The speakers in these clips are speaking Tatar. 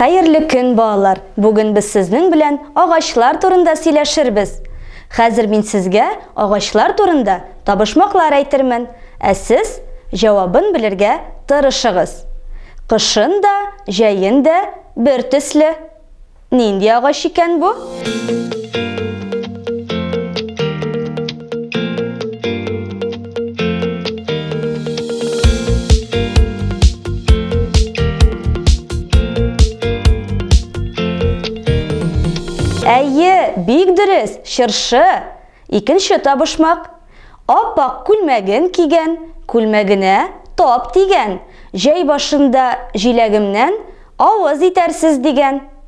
Хәерле көн, балалар! Бүген без сезнең белән агачлар турында сөйләшербез. Хәзер мин сезгә агачлар турында табышмаклар әйтермен, ә сез җавабын белергә тырышыгыз. Кышын да, җәен дә бер төсле. Нинди агач икән бу? Әйе, бик дөрес, чыршы. Икенче табышмак. Аппак күлмәген кигән, күлмәгенә тап дигән. Җәй башында җиләгемнән авыз итәрсез дигән.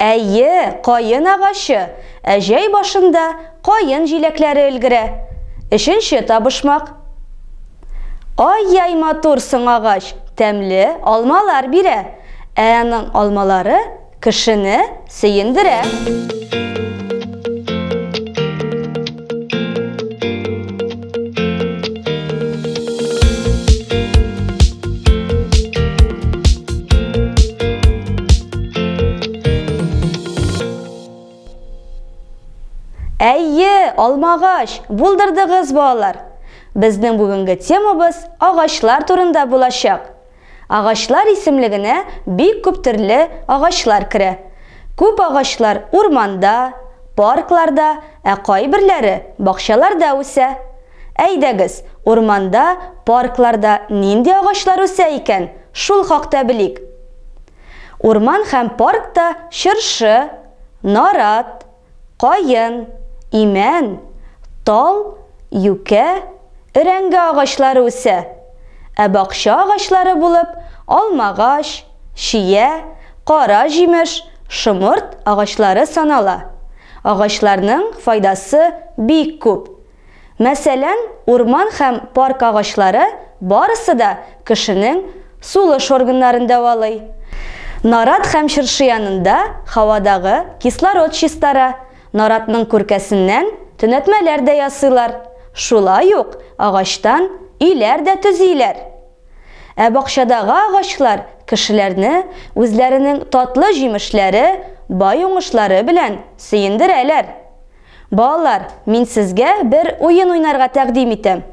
Әйе, каен агачы, ә җәй башында каен җиләкләре өлгерә. Өченче табышмак. Ай-яй матур соң агач, тәмле алмалар бирә, ә аның алмалары кешене сөендерә. Әйе, алмагач, булдырдыгыз балалар. Безнең бүгенге темабыз агачлар турында булачак. Агачлар исемлегенә бик күп төрле агачлар керә. Күп агачлар урманда, паркларда, ә кайберләре бакчаларда үсә. Әйдәгез, урманда, паркларда нинди агачлар үсә икән, шул хакта белик. Урман һәм паркта чыршы, нарат, каен, имән, тал, юкә, өрәңге агачлары үсә, ә бакча агачлары булып алмагач, чия, кара җимеш, шомырт агачлары санала. Агачларның файдасы бик күп. Мәсәлән, урман һәм парк агачлары барысы да кешенең сулыш органнарын дәвалый. Нарат һәм чыршы янында һавадагы кислород чистара, наратның күркәсеннән төнәтмәләр дә ясыйлар, шулай ук агачтан өйләр дә төзиләр. Ә бакчадагы агачлар кешеләрне үзләренең татлы җимешләре, бай уңышлары белән сөендерәләр. Балалар, мин сезгә бер уен уйнарга тәкъдим итәм.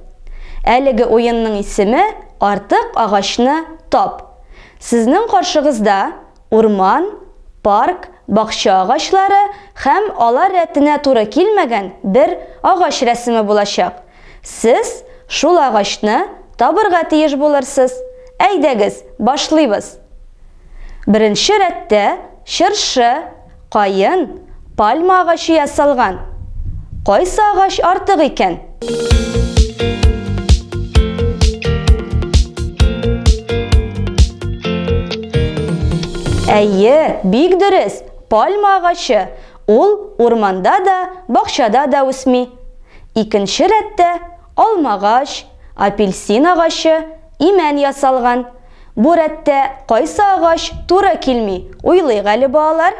Әлеге уенның исеме Артык агачны тап. Сезнең каршыгызда урман, парк, бакча агачлары һәм алар рәтенә туры килмәгән бер агач рәсеме булачак. Сез шул агачны табырга тиеш булырсыз. Әйдәгез, башлыйбыз. Беренче рәттә чыршы, каен, пальма агачы ясалган. Кайсы агач артык икән? Әйе, бик дөрес, пальма агачы. Ул урманда да, бакчада да үсми. Икенче рәттә, алмагач, апельсин агачы, имән ясалган. Бу рәттә кайсы агач туры килми, уйлыйк әле балалар.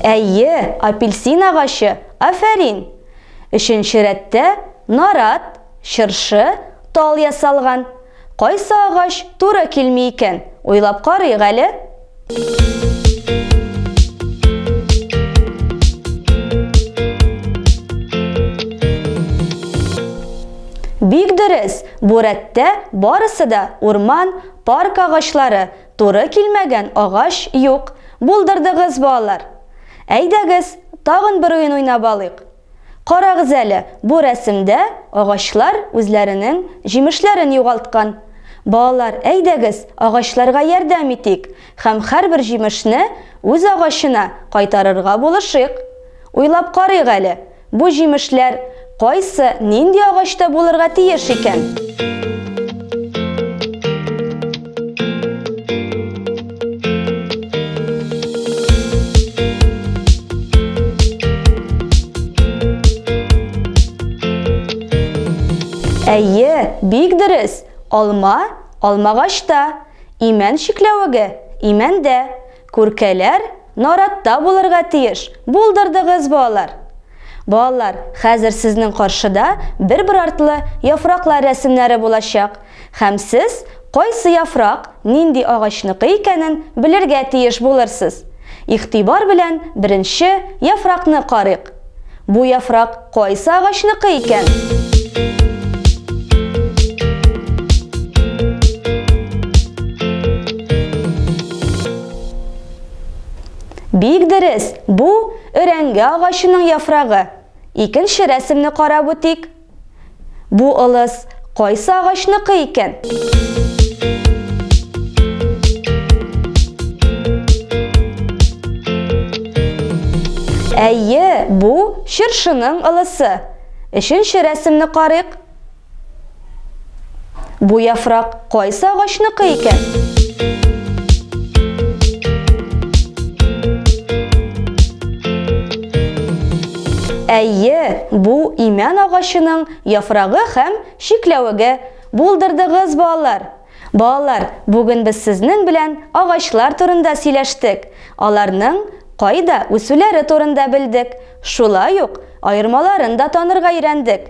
Әйе, апельсин агачы, афәрин! Өченче рәттә нарат, чыршы, тал ясалган. Кайсы агач туры килми икән, уйлап карыйк әле. Бик дөрес, бу рәттә барысы да урман, парк агачлары, Туры килмәгән агач юк. Булдырдыгыз, балалар! Әйдәгез, тагын бер уен уйнап алыйк. Карагыз әле, бу рәсемдә агачлар үзләренең җимешләрен югалткан. Балалар, әйдәгез, агачларга ярдәм итик һәм һәрбер җимешне үз агачына кайтарырга булышыйк. Уйлап карыйк әле, Бу җимешләр кайсы, нинди агачта булырга тиеш икән? Әйе, бик дөрес. Алма, алмагачта. Имән шикләвеге, имәндә. Күркәләр наратта булырга тиеш, булдырдыгыз, балалар! Балалар, хәзер сезнең каршыда бер-бер артлы яфраклар рәсемнәре булачак, һәм сез кайсы яфрак нинди агачныкы икәнен белергә тиеш булырсыз. Игътибар белән беренче яфракны карыйк. Бу яфрак кайсы агачныкы икән? Бик дөрес, бу өрәңге агачының яфрагы. Икенче рәсемне карап үтик. Бу ылыс кайсы агачныкы икән? Әйе, бу чыршының ылысы. Өченче рәсемне карыйк. Бу яфрак кайсы агачныкы икән? Әйе, бу имән агачының яфрагы һәм шикләвеге. Булдырдыгыз, балалар. Балалар, бүген без сезнең белән агачлар турында сөйләштек. Аларның кайда үсүләре турында белдек. Шулай ук аермаларын да танырга өйрәндек.